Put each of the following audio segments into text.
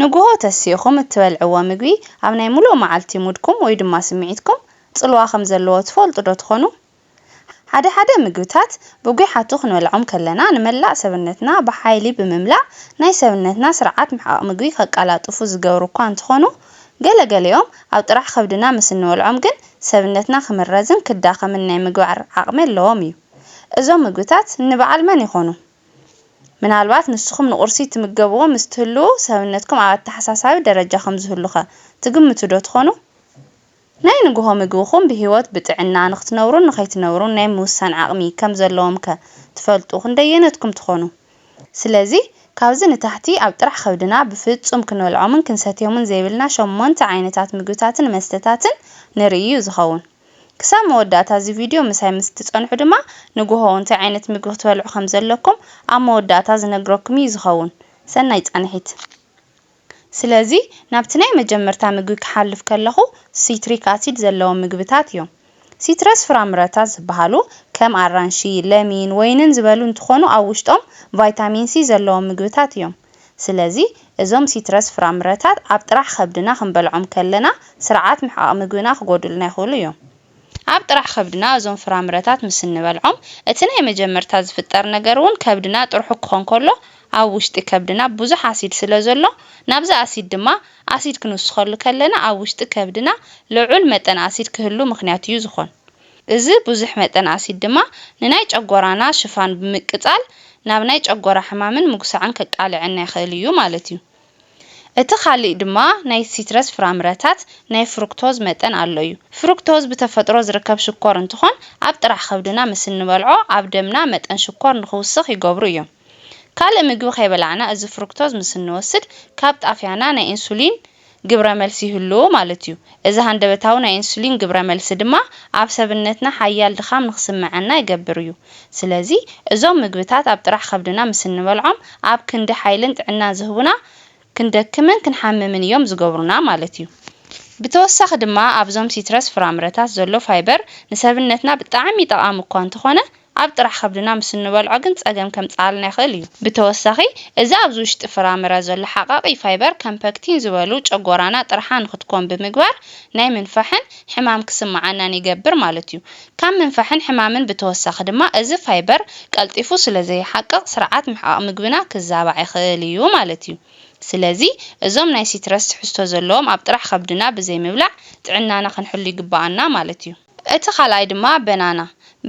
ንጉሆ ተሲእኹም እትበልዕዎ ምግቢ ኣብ ናይ ምሉእ መዓልቲ ሙድኩም ወይ ድማ ስምዒትኩም ጽልዋ ከም ዘለዎ ትፈልጡዶ ትኾኑ? ሓደ ሓደ ምግብታት ብጒሓቱ ክንበልዖም ከለና ንመላእ ሰብነትና ብሓይሊ ብምምላእ ናይ ሰብነትና ስርዓት ምሕቓቕ ምግቢ ከቀላጥፉ ዝገብሩ እኳ እንተኾኑ ገለ ገሊኦም ኣብ ጥራሕ ከብድና ምስ እንበልዖም ግን ሰብነትና ክምረዝን ክዳኸምን ናይ ምግባር ዓቕሚ ኣለዎም እዩ። እዞም ምግብታት ንበዓል መን ይኾኑ? ምናልባት ንስኹም ንቝርሲ እትምገብዎ ምስ እትህልዉ፣ ሰብነትኩም ኣብ ኣተሓሳሳቢ ደረጃ ኸም ዚህሉኸ ትግምቱዶ ትዀኑ? ናይ ንግሆ ምግብኹም ብህይወት ብጥዕና ንኽትነብሩን ንኸይትነብሩን ናይ ምውሳን ዓቕሚ ኸም ዘለዎምከ ትፈልጡ ኽንደየነትኩም ትዀኑ? ስለዚ፣ ካብዚ ንታሕቲ ኣብ ጥራሕ ኸብድና ብፍጹም ክንበልዖምን ክንሰትዮምን ዘይብልና ሸሞንተ ዓይነታት ምግብታትን መስተታትን ንርኢ እዩ ዚኸውን። ክሳብ መወዳእታ እዚ ቪድዮ ምሳይ ምስ እትጸንሑ ድማ ንጉሆ እንታይ ዓይነት ምግቢ ክትበልዑ ከም ዘለኩም ኣብ መወዳእታ ዝነግረኩም እዩ ዝኸውን። ሰናይ ጻንሒት። ስለዚ ናብቲ ናይ መጀመርታ ምግቢ ክሓልፍ ከለኹ ሲትሪክ ኣሲድ ዘለዎም ምግብታት እዮም። ሲትረስ ፍራምረታት ዝበሃሉ ከም ኣራንሺ፣ ለሚን፣ ወይንን ዝበሉ እንትኾኑ ኣብ ውሽጦም ቫይታሚን ሲ ዘለዎም ምግብታት እዮም። ስለዚ እዞም ሲትረስ ፍራምረታት ኣብ ጥራሕ ኸብድና ክንበልዖም ከለና ስርዓት ምሕቓቕ ምግብና ክጎድኡልና ይኽእሉ እዮም። ኣብ ጥራሕ ኸብድና እዞም ፍራምረታት ምስ እንበልዖም እቲ ናይ መጀመርታ ዝፍጠር ነገር እውን ከብድና ጥርሑ ክኾን ከሎ ኣብ ውሽጢ ከብድና ብዙሕ ኣሲድ ስለ ዘሎ ናብዚ ኣሲድ ድማ ኣሲድ ክንውስኸሉ ከለና ኣብ ውሽጢ ከብድና ልዑል መጠን ኣሲድ ክህሉ ምኽንያት እዩ ዝኾን። እዚ ብዙሕ መጠን ኣሲድ ድማ ንናይ ጨጎራና ሽፋን ብምቅጻል ናብ ናይ ጨጎራ ሕማምን ምጉሳዕን ከቃልዐና ይኽእል እዩ ማለት እዩ። እቲ ካሊእ ድማ ናይ ሲትረስ ፍራምረታት ናይ ፍሩክቶዝ መጠን ኣሎ እዩ። ፍሩክቶዝ ብተፈጥሮ ዝርከብ ሽኮር እንትኾን ኣብ ጥራሕ ከብድና ምስ እንበልዖ ኣብ ደምና መጠን ሽኮር ንኽውስኽ ይገብሩ እዮም። ካልእ ምግቢ ከይበላዕና እዚ ፍሩክቶዝ ምስ እንወስድ ካብ ጣፍያና ናይ ኢንሱሊን ግብረ መልሲ ይህልዎ ማለት እዩ። እዚ ሃንደበታዊ ናይ ኢንሱሊን ግብረ መልሲ ድማ ኣብ ሰብነትና ሓያል ድኻም ንኽስምዐና ይገብር እዩ። ስለዚ እዞም ምግብታት ኣብ ጥራሕ ከብድና ምስ እንበልዖም ኣብ ክንዲ ሓይልን ጥዕናን ዝህቡና ክንደክምን ክንሓምምን እዮም ዝገብሩና ማለት እዩ። ብተወሳኺ ድማ ኣብዞም ሲትረስ ፍራምረታት ዘሎ ፋይበር ንሰብነትና ብጣዕሚ ጠቓሚ እኳ እንተኾነ ኣብ ጥራሕ ከብድና ምስ እንበልዖ ግን ጸገም ከምጽኣልና ይኽእል እዩ። ብተወሳኺ፣ እዚ ኣብዚ ውሽጢ ፍራምረ ዘሎ ሓቓቒ ፋይበር ከም ፐክቲን ዝበሉ ጨጎራና ጥርሓ ንክትኮን ብምግባር ናይ ምንፋሕን ሕማም ክስምዓናን ይገብር ማለት እዩ። ካብ ምንፋሕን ሕማምን ብተወሳኺ ድማ እዚ ፋይበር ቀልጢፉ ስለ ዘይሓቅቕ ስርዓት ምሕቓቕ ምግብና ክዛባዕ ይኽእል እዩ ማለት እዩ። ስለዚ እዞም ናይ ሲትረስ ትሕዝቶ ዘለዎም ኣብ ጥራሕ ከብድና ብዘይምብላዕ ጥዕናና ክንሕሉ ይግብኣና ማለት እዩ። እቲ ካልኣይ ድማ በናና።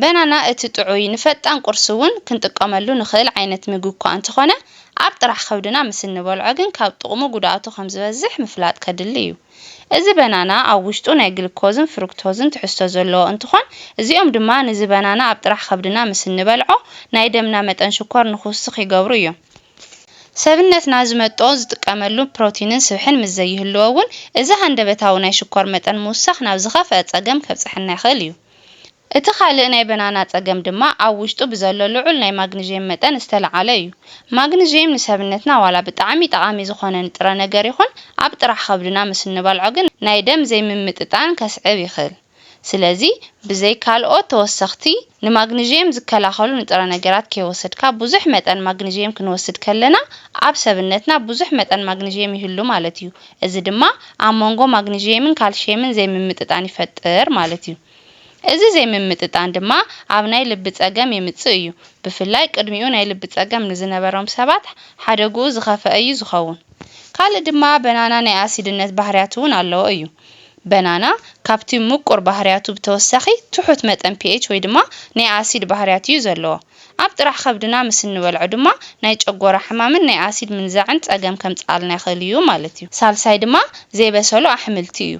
በናና እቲ ጥዑይ፣ ንፈጣን ቁርሲ እውን ክንጥቀመሉ ንኽእል ዓይነት ምግቢ እኳ እንተኾነ፣ ኣብ ጥራሕ ከብድና ምስ እንበልዖ ግን ካብ ጥቕሙ ጉድኣቱ ከም ዝበዝሕ ምፍላጥ ከድሊ እዩ። እዚ በናና ኣብ ውሽጡ ናይ ግልኮዝን ፍሩክቶዝን ትሕዝቶ ዘለዎ እንትኾን፣ እዚኦም ድማ ንዚ በናና ኣብ ጥራሕ ከብድና ምስ እንበልዖ ናይ ደምና መጠን ሽኮር ንኽውስኽ ይገብሩ እዮም። ሰብነትና ዝመጥኦ ዝጥቀመሉ ፕሮቲንን ስብሕን ምስ ዘይህልዎ እውን እዚ ሃንደበታዊ ናይ ሽኮር መጠን ምውሳኽ ናብ ዝኸፍኣ ፀገም ከብፀሐና ይኽእል እዩ። እቲ ካልእ ናይ በናና ፀገም ድማ ኣብ ውሽጡ ብዘሎ ልዑል ናይ ማግኒዥየም መጠን ዝተልዓለ እዩ። ማግኒዥየም ንሰብነትና ዋላ ብጣዕሚ ጠቓሚ ዝኾነ ንጥረ ነገር ይኹን ኣብ ጥራሕ ከብድና ምስ እንበልዖ ግን ናይ ደም ዘይምምጥጣን ከስዕብ ይኽል። ስለዚ ብዘይ ካልኦት ተወሰኽቲ ንማግኒዥየም ዝከላኸሉ ንጥረ ነገራት ከይወሰድካ ብዙሕ መጠን ማግኒዥየም ክንወስድ ከለና ኣብ ሰብነትና ብዙሕ መጠን ማግኒዥየም ይህሉ ማለት እዩ። እዚ ድማ ኣብ መንጎ ማግኒዥየምን ካልሽየምን ዘይምምጥጣን ይፈጥር ማለት እዩ። እዚ ዘይምምጥጣን ድማ ኣብ ናይ ልቢ ፀገም የምፅእ እዩ። ብፍላይ ቅድሚኡ ናይ ልቢ ፀገም ንዝነበሮም ሰባት ሓደግኡ ዝኸፈኣ እዩ ዝኸውን። ካልእ ድማ በናና ናይ ኣሲድነት ባህርያት እውን ኣለዎ እዩ። በናና ካብቲ ምቁር ባህርያቱ ብተወሳኺ ትሑት መጠን ፒኤች ወይ ድማ ናይ ኣሲድ ባህርያት እዩ ዘለዎ። ኣብ ጥራሕ ከብድና ምስ እንበልዖ ድማ ናይ ጨጎራ ሕማምን ናይ ኣሲድ ምንዛዕን ጸገም ከምጽኣልና ይኽእል እዩ ማለት እዩ። ሳልሳይ ድማ ዘይበሰሉ ኣሕምልቲ እዩ።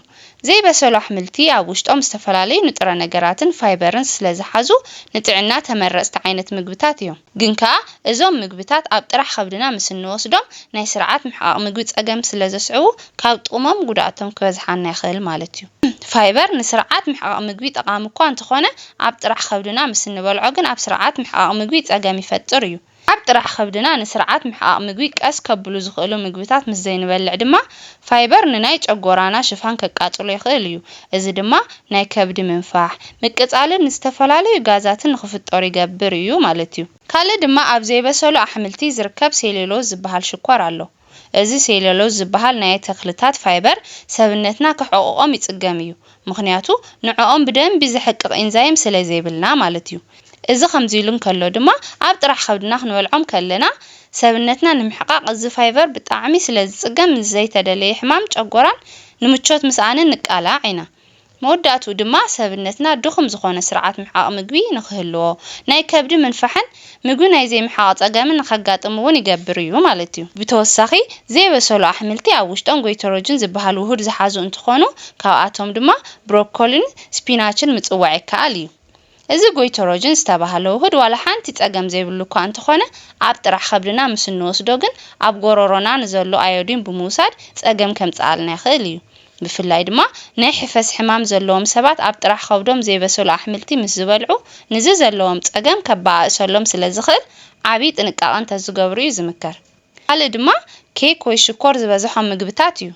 ዘይበሰሉ ኣሕምልቲ ኣብ ውሽጦም ዝተፈላለዩ ንጥረ ነገራትን ፋይበርን ስለዝሓዙ ንጥዕና ተመረጽቲ ዓይነት ምግብታት እዮም። ግን ከኣ እዞም ምግብታት ኣብ ጥራሕ ከብድና ምስ እንወስዶም ናይ ስርዓት ምሕቓቕ ምግቢ ጸገም ስለ ዘስዕቡ ካብ ጥቕሞም ጉድኣቶም ክበዝሓና ይኽእል ማለት እዩ። ፋይበር ንስርዓት ምሕቓቕ ምግቢ ጠቓሚ እኳ እንተኾነ ኣብ ጥራሕ ከብድና ምስ እንበልዖ ግን ኣብ ስርዓት ምሕቓቕ ምግቢ ጸገም ይፈጥር እዩ። ኣብ ጥራሕ ከብድና ንስርዓት ምሕቓቕ ምግቢ ቀስ ከብሉ ዝኽእሉ ምግብታት ምስ ዘይንበልዕ ድማ ፋይበር ንናይ ጨጎራና ሽፋን ከቃጽሎ ይኽእል እዩ፣ እዚ ድማ ናይ ከብዲ ምንፋሕ፣ ምቅጻልን ንዝተፈላለዩ ጋዛትን ንኽፍጠሩ ይገብር እዩ ማለት እዩ። ካልእ ድማ ኣብ ዘይበሰሉ ኣሕምልቲ ዝርከብ ሴሉሎዝ ዝበሃል ሽኮር ኣሎ። እዚ ሴሉሎዝ ዝበሃል ናይ ተኽልታት ፋይበር ሰብነትና ከሕቕቖም ይጽገም እዩ፣ ምኽንያቱ ንዕኦም ብደንቢ ዘሕቅቕ ኢንዛይም ስለዘይብልና ማለት እዩ። እዚ ከምዚ'ሉ እንከሎ ድማ ኣብ ጥራሕ ከብድና ክንበልዖም ከለና ሰብነትና ንምሕቃቕ እዚ ፋይቨር ብጣዕሚ ስለዝጽገም ምስ ዘይተደለየ ሕማም ጨጎራን ንምቾት ምስኣንን ንቃላዕ ኢና። መወዳእትኡ ድማ ሰብነትና ድኹም ዝኾነ ስርዓት ምሕቓቕ ምግቢ ንኽህልዎ ናይ ከብዲ ምንፋሕን ምግቢ ናይ ዘይምሕቓቕ ጸገም ንኸጋጥም እውን ይገብር እዩ ማለት እዩ። ብተወሳኺ ዘይበሰሉ ኣሕምልቲ ኣብ ውሽጦም ጎይተሮጅን ዝበሃል ውሁድ ዝሓዙ እንትኾኑ ካብኣቶም ድማ ብሮኮሊን ስፒናችን ምፅዋዕ ይከኣል እዩ። እዚ ጎይተሮጅን ዝተባህለ ውሁድ ዋላ ሓንቲ ጸገም ዘይብሉ እኳ እንተኾነ ኣብ ጥራሕ ኸብድና ምስ እንወስዶ ግን ኣብ ጎሮሮና ንዘሎ ኣዮዲን ብምውሳድ ጸገም ከምፅኣልና ይኽእል እዩ። ብፍላይ ድማ ናይ ሕፈስ ሕማም ዘለዎም ሰባት ኣብ ጥራሕ ኸብዶም ዘይበሰሉ ኣሕምልቲ ምስ ዝበልዑ ንዚ ዘለዎም ፀገም ከባኣእሰሎም ስለ ዝኽእል ዓብይ ጥንቃቐ እንተዝገብሩ እዩ ዝምከር። ኻልእ ድማ ኬክ ወይ ሽኮር ዝበዘሖም ምግብታት እዩ።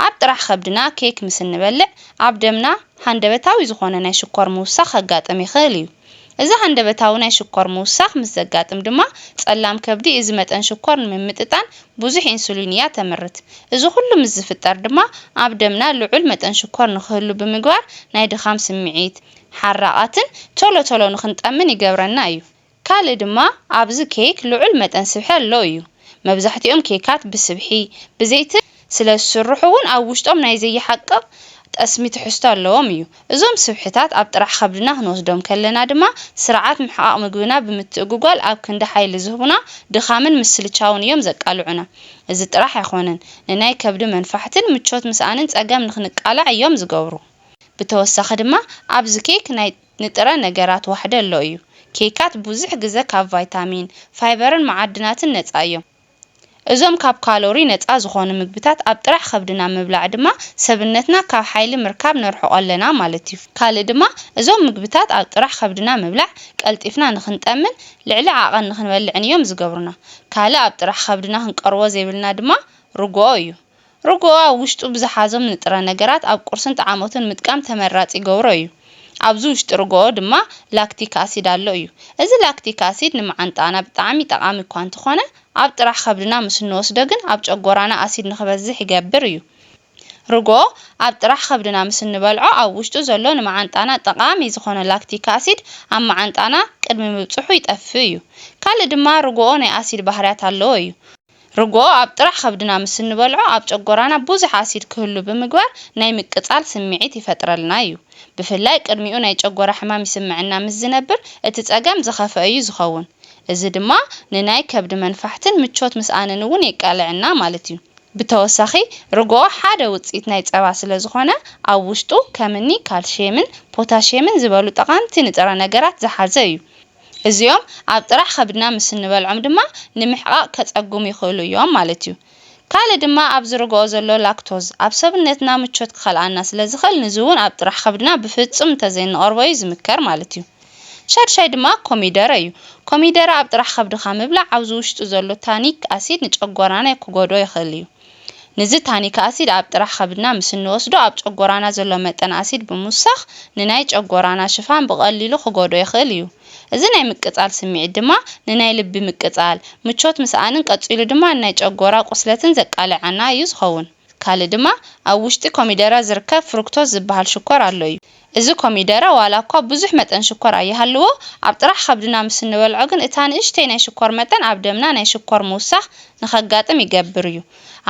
ኣብ ጥራሕ ኸብድና ኬክ ምስ እንበልዕ ኣብ ደምና ሃንደበታዊ ዝኾነ ናይ ሽኮር ምውሳኽ ኸጋጥም ይኽእል እዩ። እዚ ሃንደበታዊ ናይ ሽኮር ምውሳኽ ምስ ዘጋጥም ድማ ጸላም ከብዲ እዚ መጠን ሽኮር ንምምጥጣን ብዙሕ ኢንሱሊን እያ ተምርት። እዚ ኩሉ ምስ ዝፍጠር ድማ ኣብ ደምና ልዑል መጠን ሽኮር ንክህሉ ብምግባር ናይ ድኻም ስምዒት፣ ሓራቓትን ቶሎ ቶሎ ንክንጠምን ይገብረና እዩ። ካልእ ድማ ኣብዚ ኬክ ልዑል መጠን ስብሒ ኣሎ እዩ። መብዛሕቲኦም ኬካት ብስብሒ፣ ብዘይትን ስለ ዝስርሑ ውን ኣብ ውሽጦም ናይ ዘይሓቅቕ ጠስሚ ትሕዝቶ ኣለዎም እዩ። እዞም ስብሕታት ኣብ ጥራሕ ኸብድና ክንወስዶም ከለና ድማ ስርዓት ምሕቓቕ ምግብና ብምትእጉጓል ኣብ ክንዲ ሓይሊ ዝህቡና ድኻምን ምስልቻውን እዮም ዘቃልዑና። እዚ ጥራሕ ኣይኾነን ንናይ ከብዲ መንፋሕትን ምቾት ምስኣንን ጸገም ንክንቃላዕ እዮም ዝገብሩ። ብተወሳኺ ድማ ኣብዚ ኬክ ናይ ንጥረ ነገራት ዋሕደ ኣሎ እዩ። ኬካት ብዙሕ ግዘ ካብ ቫይታሚን፣ ፋይበርን መዓድናትን ነጻ እዮም። እዞም ካብ ካሎሪ ነጻ ዝኾኑ ምግብታት ኣብ ጥራሕ ከብድና ምብላዕ ድማ ሰብነትና ካብ ሓይሊ ምርካብ ነርሕቆ ኣለና ማለት'ዩ። ካልእ ድማ እዞም ምግብታት ኣብ ጥራሕ ከብድና ምብላዕ ቀልጢፍና ንኽንጠምን ልዕሊ ዓቐን ንኽንበልዕን እዮም ዝገብሩና። ካልእ ኣብ ጥራሕ ከብድና ክንቀርቦ ዘይብልና ድማ ርግኦ እዩ። ርግኦ ኣብ ውሽጡ ብዝሓዞም ንጥረ ነገራት ኣብ ቁርስን ጠዓሞትን ምጥቃም ተመራጺ ይገብሮ እዩ። ኣብዚ ውሽጢ ርግኦ ድማ ላክቲክ ኣሲድ ኣሎ እዩ። እዚ ላክቲክ ኣሲድ ንመዓንጣና ብጣዕሚ ጠቓሚ እኳ እንተኾነ ኣብ ጥራሕ ከብድና ምስ እንወስዶ ግን ኣብ ጨጎራና ኣሲድ ንክበዝሕ ይገብር እዩ። ርግኦ ኣብ ጥራሕ ከብድና ምስ እንበልዖ ኣብ ውሽጡ ዘሎ ንመዓንጣና ጠቓሚ ዝኾነ ላክቲክ ኣሲድ ኣብ መዓንጣና ቅድሚ ምብጽሑ ይጠፍእ እዩ። ካልእ ድማ ርግኦ ናይ ኣሲድ ባህርያት ኣለዎ እዩ። ርግኦ ኣብ ጥራሕ ከብድና ምስ እንበልዖ ኣብ ጨጎራና ብዙሕ ኣሲድ ክህሉ ብምግባር ናይ ምቅጻል ስምዒት ይፈጥረልና እዩ። ብፍላይ ቅድሚኡ ናይ ጨጎራ ሕማም ይስምዐና ምስ ዝነብር እቲ ጸገም ዝኸፍኣ እዩ ዝኸውን። እዚ ድማ ንናይ ከብዲ መንፋሕትን ምቾት ምስኣንን እውን የቃልዐና ማለት እዩ። ብተወሳኺ ርግኦ ሓደ ውጽኢት ናይ ጸባ ስለ ዝኾነ ኣብ ውሽጡ ከም እኒ ካልሽየምን ፖታሽየምን ዝበሉ ጠቓምቲ ንጥረ ነገራት ዝሓዘ እዩ። እዚኦም ኣብ ጥራሕ ከብድና ምስ እንበልዖም ድማ ንምሕቓቕ ከጸግሙ ይኽእሉ እዮም ማለት እዩ። ካልእ ድማ ኣብዚ ርግኦ ዘሎ ላክቶዝ ኣብ ሰብነትና ምቾት ክኸልኣና ስለ ዝኽእል ንዚውን ኣብ ጥራሕ ከብድና ብፍጹም እንተዘይንቐርቦ እዩ ዝምከር ማለት እዩ። ሻድሻይ ድማ ኮሚደረ እዩ። ኮሚደረ ኣብ ጥራሕ ከብድኻ ምብላዕ ኣብዚ ውሽጡ ዘሎ ታኒክ ኣሲድ ንጨጎራና ክጎድኦ ይኽእል እዩ። ንዚ ታኒክ ኣሲድ ኣብ ጥራሕ ከብድና ምስ እንወስዶ ኣብ ጨጎራና ዘሎ መጠን ኣሲድ ብምውሳኽ ንናይ ጨጎራና ሽፋን ብቐሊሉ ክጎድኦ ይኽእል እዩ። እዚ ናይ ምቅጻል ስምዒት ድማ ንናይ ልቢ ምቅጻል፣ ምቾት ምስኣንን ቀጺሉ ድማ ንናይ ጨጎራ ቁስለትን ዘቃልዓና እዩ ዝኸውን። ካልእ ድማ ኣብ ውሽጢ ኮሚደረ ዝርከብ ፍሩክቶዝ ዝበሃል ሽኮር ኣሎ እዩ። እዚ ኮሚደረ ዋላ እኳ ብዙሕ መጠን ሽኮር ኣይሃልዎ፣ ኣብ ጥራሕ ከብድና ምስ እንበልዖ ግን እታ ንእሽተይ ናይ ሽኮር መጠን ኣብ ደምና ናይ ሽኮር ምውሳኽ ንኸጋጥም ይገብር እዩ።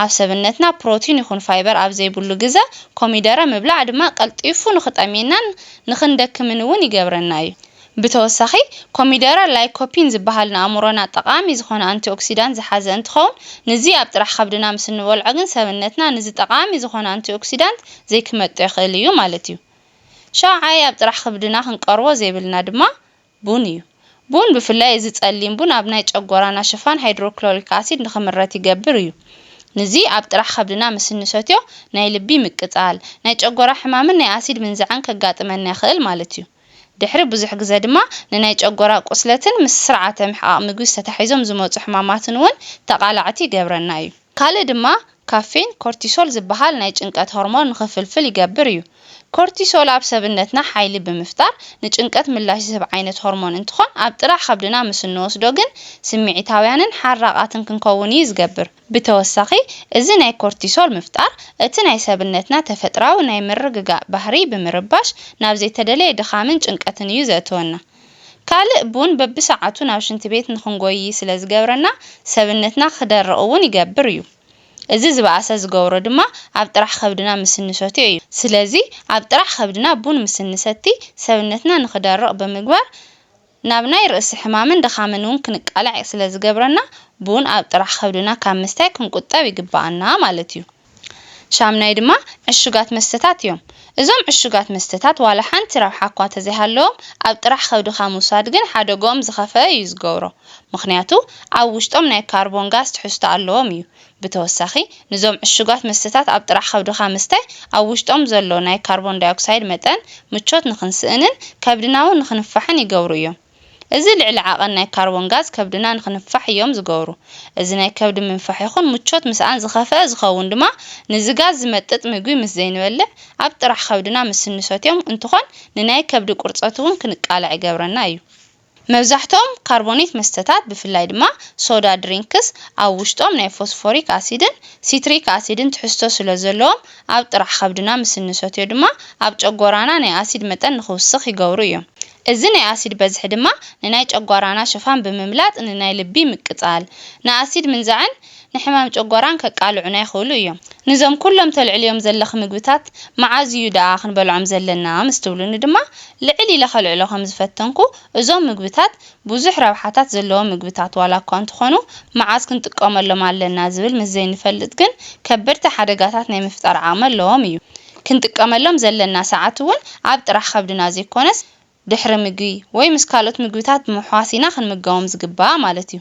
ኣብ ሰብነትና ፕሮቲን ይኹን ፋይበር ኣብ ዘይብሉ ግዘ ኮሚደረ ምብላዕ ድማ ቀልጢፉ ንኽጠምየናን ንኽንደክምን እውን ይገብረና እዩ። ብተወሳኺ ኮሚደረ ላይኮፒን ዝበሃል ንኣእምሮና ጠቓሚ ዝኾነ ኣንቲኦክሲዳንት ዝሓዘ እንትኸውን ንዚ ኣብ ጥራሕ ኸብድና ምስ እንበልዖ ግን ሰብነትና ንዚ ጠቓሚ ዝኾነ ኣንቲኦክሲዳንት ዘይክመጦ ይኽእል እዩ ማለት እዩ። ሻውዓይ ኣብ ጥራሕ ኽብድና ክንቀርቦ ዘይብልና ድማ ቡን እዩ። ቡን ብፍላይ እዚ ፀሊም ቡን ኣብ ናይ ጨጎራና ሽፋን ሃይድሮክሎሪክ ኣሲድ ንኽምረት ይገብር እዩ። ንዚ ኣብ ጥራሕ ኸብድና ምስ እንሰትዮ ናይ ልቢ ምቅፃል፣ ናይ ጨጎራ ሕማምን ናይ ኣሲድ ምንዛዕን ከጋጥመና ይኽእል ማለት እዩ። ድሕሪ ብዙሕ ግዘ ድማ ንናይ ጨጎራ ቁስለትን ምስ ስርዓተ ምሕቓቕ ምግቢ ዝተታሒዞም ዝመፁ ሕማማትን እውን ተቓላዕቲ ይገብረና እዩ። ካልእ ድማ ካፌን ኮርቲሶል ዝበሃል ናይ ጭንቀት ሆርሞን ንኽፍልፍል ይገብር እዩ። ኮርቲሶል ኣብ ሰብነትና ሓይሊ ብምፍጣር ንጭንቀት ምላሽ ዝህብ ዓይነት ሆርሞን እንትኾን ኣብ ጥራሕ ኸብድና ምስ እንወስዶ ግን ስምዒታውያንን ሓራቓትን ክንከውን እዩ ዝገብር። ብተወሳኺ እዚ ናይ ኮርቲሶል ምፍጣር እቲ ናይ ሰብነትና ተፈጥራዊ ናይ ምርግጋእ ባህርይ ብምርባሽ ናብ ዘይተደለየ ድኻምን ጭንቀትን እዩ ዘእትወና። ካልእ ቡን በብሰዓቱ ናብ ሽንቲ ቤት ንኽንጎይይ ስለ ዝገብረና ሰብነትና ክደርቕ እውን ይገብር እዩ። እዚ ዝበኣሰ ዝገብሮ ድማ ኣብ ጥራሕ ከብድና ምስ እንሰትዮ እዩ። ስለዚ ኣብ ጥራሕ ከብድና ቡን ምስ እንሰቲ ሰብነትና ንኽደርቕ ብምግባር ናብ ናይ ርእሲ ሕማምን ድኻምን እውን ክንቃላዕ ስለ ዝገብረና፣ ቡን ኣብ ጥራሕ ከብድና ካብ ምስታይ ክንቁጠብ ይግበኣና ማለት እዩ። ሻምናይ ድማ ዕሹጋት መስተታት እዮም። እዞም ዕሹጋት መስተታት ዋላ ሓንቲ ረብሓ እኳ ተዘይሃለዎም፣ ኣብ ጥራሕ ከብድኻ ምውሳድ ግን ሓደግኦም ዝኸፍኣ እዩ ዝገብሮ። ምኽንያቱ ኣብ ውሽጦም ናይ ካርቦን ጋዝ ትሕዝቶ ኣለዎም እዩ። ብተወሳኺ፣ ንዞም ዕሹጋት መስተታት ኣብ ጥራሕ ከብድኻ ምስታይ፣ ኣብ ውሽጦም ዘሎ ናይ ካርቦን ዳይኦክሳይድ መጠን ምቾት ንኽንስእንን ከብድና እውን ንኽንፋሕን ይገብሩ እዮም። እዚ ልዕሊ ዓቐን ናይ ካርቦን ጋዝ ከብድና ንኽንፋሕ እዮም ዝገብሩ። እዚ ናይ ከብዲ ምንፋሕ ይኹን ምቾት ምስኣን ዝኸፈኣ ዝኸውን ድማ ንዚ ጋዝ ዝመጥጥ ምግቢ ምስ ዘይንበልዕ ኣብ ጥራሕ ከብድና ምስ እንሰትዮም እንትኾን ንናይ ከብዲ ቁርፀት እውን ክንቃላዕ ይገብረና እዩ። መብዛሕትኦም ካርቦኔት መስተታት ብፍላይ ድማ ሶዳ ድሪንክስ ኣብ ውሽጦም ናይ ፎስፎሪክ ኣሲድን ሲትሪክ ኣሲድን ትሕዝቶ ስለ ዘለዎም ኣብ ጥራሕ ከብድና ምስ እንሰትዮ ድማ ኣብ ጨጎራና ናይ ኣሲድ መጠን ንክውስኽ ይገብሩ እዮም። እዚ ናይ ኣሲድ በዝሒ ድማ ንናይ ጨጓራና ሽፋን ብምምላጥ ንናይ ልቢ ምቅጻል፣ ንኣሲድ ምንዛዕን ንሕማም ጨጎራን ከቃልዑና ይኽእሉ እዮም። ንዞም ኩሎም ተልዕልዮም ዘለኺ ምግብታት መዓዝ እዩ ደኣ ክንበልዖም ዘለና ምስ ትብሉኒ ድማ ልዕል ኢለ ከልዕሎ ከም ዝፈተንኩ እዞም ምግብታት ብዙሕ ረብሓታት ዘለዎም ምግብታት ዋላ እኳ እንተኾኑ መዓዝ ክንጥቀመሎም ኣለና ዝብል ምስ ዘይንፈልጥ ግን ከበድቲ ሓደጋታት ናይ ምፍጣር ዓቕሚ ኣለዎም እዩ። ክንጥቀመሎም ዘለና ሰዓት እውን ኣብ ጥራሕ ከብድና ዘይኮነስ ድሕሪ ምግቢ ወይ ምስ ካልኦት ምግብታት ብምሕዋስ ኢና ክንምገቦም ዝግባእ ማለት እዩ።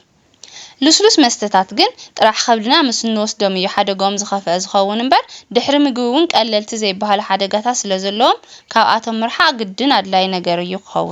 ልስሉስ መስተታት ግን ጥራሕ ከብድና ምስ እንወስዶም እዩ ሓደግኦም ዝኸፍኣ ዝኸውን እምበር ድሕሪ ምግቢ እውን ቀለልቲ ዘይበሃሉ ሓደጋታት ስለዘለዎም ካብኣቶም ምርሓቕ ግድን ኣድላዪ ነገር እዩ ክኸውን።